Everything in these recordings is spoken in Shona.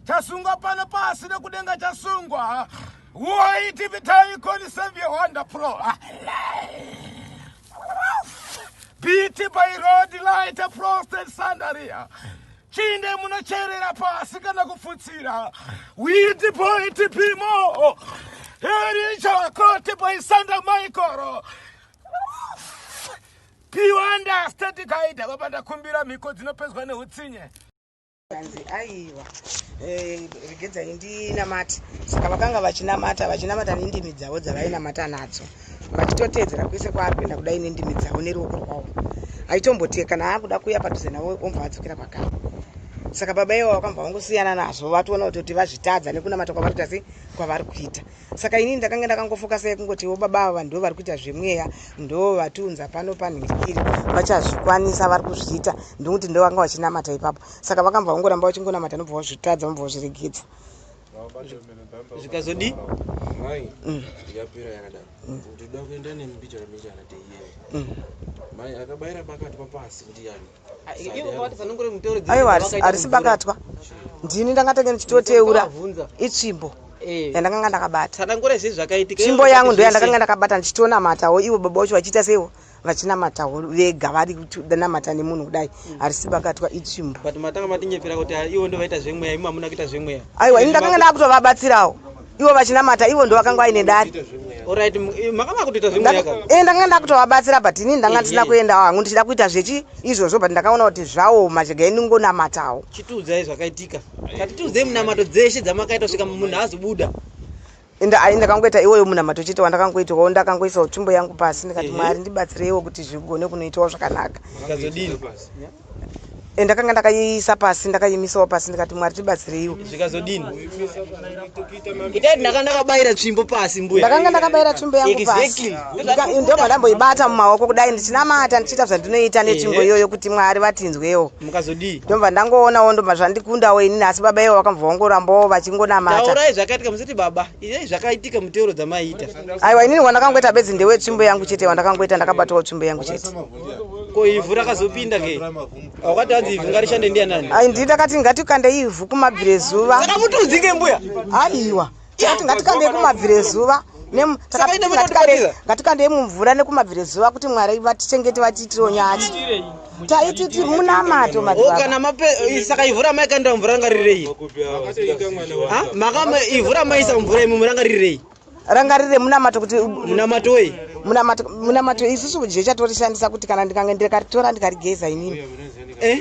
chasungwa pano pasi nekudenga chasungwa woi tv taikoni save your wonder pro biti by road light prostate sandaria chinde munocherera pasi kana kufutsira witi boitipimo erichakoti paisanda maikoro piwanda static aida baba ndakumbira mhiko dzinopedzwa neutsinye anzi aiwa eh, regedzai ndinamati saka vakanga vachinamata vachinamata nendimi dzavo dzavainamata nadzo vachitoteedzera kwese kwaapinda kudai nendimi dzavo neruoko rwavo aitombotiye kana aakuda kuya padhuze navo ombva adzokera pakavo saka baba ivo vakambva vangosiyana nazvo vatoona kutoti vazvitadza nekunamata kwavari kuita sei kwavari kuita Saka inini ndakanga ndakangofokasa yekungotiwo baba ava ndo vari kuita zvemweya ndo vatiunza pano panhikiri vachazvikwanisa vari kuzviita ndokuti ndo vanga vachinamata ipapo saka vakambva vangoramba vachingonamata nobva vazvitadza vambva vazviregedza zvikazodii mai mm. yapera yakadaro mm. ndinoda kuenda nemi bichana bichana teienda mm. mai akabaira pakati papasi ndiyani aiwa harisi bakatwa ndini ndangatenge ndichitoteura itsvimbo eh. yandakanga ndakabata tsvimbo yangu ndo yandakanga ndakabata ndichitonamatawo ivo baba vacho vachiita seivo vachinamatawo vega vari kunamata nemunhu kudai hmm. harisi bakatwa itsvimbo aiwa ini ndakanga ndakutovabatsirawo ivo vachinamata ivo ndo vakanga vaine dare eh, ndakanga ndakutovabatsira but ini ndanga ndisina kuenda hangu ndichida kuita zvechi izvozvo but ndakaona kuti zvaoma chega indingonamatawo chitiudzai zvakaitika katitiudzei munamato dzeshe dzamakaita kusvika munhu azobuda ende ai ndakangoita iwoyo munamato chete wandakangoitawo ndakangoisawo tsvimbo yangu pasi ndikati mwari ndibatsireiwo kuti zvigone kunoitawo zvakanaka Eh, ndakanga ndakaiisa pasi ndakaimisawo pasi ndikati mwari tibatsireiwo zvikazodini itai ndakanga ndakabayira tsvimbo pasi mbuya ndakanga ndakabayira tsvimbo yangu pasi ndobva ndamboibata mumaoko kudai ndichinamata ndichiita zvandinoita netsvimbo iyoyo kuti mwari vatinzwewo mukazodii ndobva ndangoonawo ndobva zvandikundawo inini asi baba ivo vakambva vangorambawo vachingonamataaurai zvakaitika musati baba izai zvakaitika muteuro dzamaiita aiwa inini wandakangoita bedzi ndewetsvimbo yangu chete wandakangoita ndakabatawo tsvimbo yangu chete ko ivhu rakazopinda ke wakati hanzi ivhu ngarishande ndiya nani ai ndii ndakati ngatikande ivhu kumabvire zuva saka mutiudzike mbuya aiwa takati ngatikande kumabvire zuva ngatikandei mumvura nekumabvire zuva kuti mwari vatichengete vatiitiro nyati taititi munamato kana saka ivhu ramaikandira mvura ranga ririrei ivhu ramaisa mvura imi muranga ririrei rangarire munamato kuti munamato wei munamato munamato isusu kudye chatorishandisa kuti kana ndikange ndikaritora ndikarigeza inini eh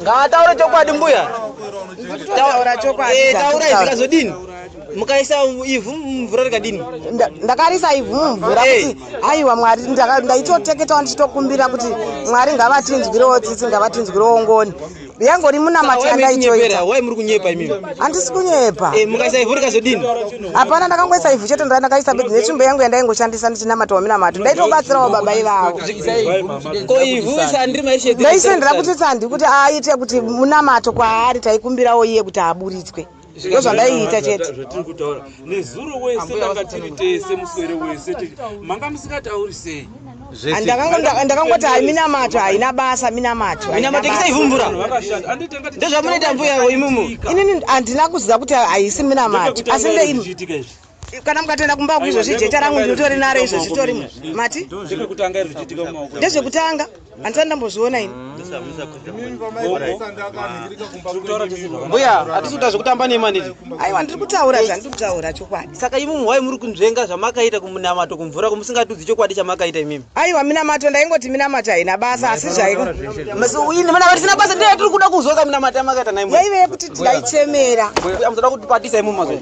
ngaataure chokwadi mbuya taura chokwadi eh, taura izikazodini mukaisa ivhu mumvura rikadini ndakarisa ivhu mumvura hey. kuti haiwa mwari ndaitoteketawo ndichitokumbira kuti mwari ngavatinzwirewo tsitsi ngavatinzwirewo ngoni yangori munamati yandaitoita wai muri kunyepa imimi handisi kunyepa eh, mukaisa ivhu rikazodini hapana ndakangoisa ivhu chete ndaa ndakaisa bedzi netsvimbo yangu yandaingoshandisa ndichinamata waminamato ndaitobatsirawo baba ivavo ko ivhu sandiri maishendira ndaisendera kuti sandi kuti aite kuti munamato kwaari taikumbirawo iye kuti aburitswe ndozvandaiita chete zvatiri kutaura nezuro wese ndanga tiri tese muswere wese manga musingatauri sei ndakangoti hai minamato haina basa minamato minamatoisaivhumbura ndozvamunoita mbuya imomo inini handina kuziva kuti haisi minamato asi ndeii kana mukatoenda kumba ku izvozvi jeta rangu ndinotori naro izvozvi tori mati ndezvekutanga handisati ndambozviona ini mbuya hatisi kuta zvekutamba nemaniti aiwa ndiri kutaura zvandiri kutaura chokwadi saka imi muhwai muri kunzvenga zvamakaita kumunamato kumvura kumusingatudzi chokwadi chamakaita imimi aiwa minamato ndaingoti minamato haina basa asi zvaiinimanatisina basa ndiyo yatiri kuda kuzwa kaminamato yamakaita naimwe yaive yekuti ndaichemera amuzoda kutipatisa imimi mazvai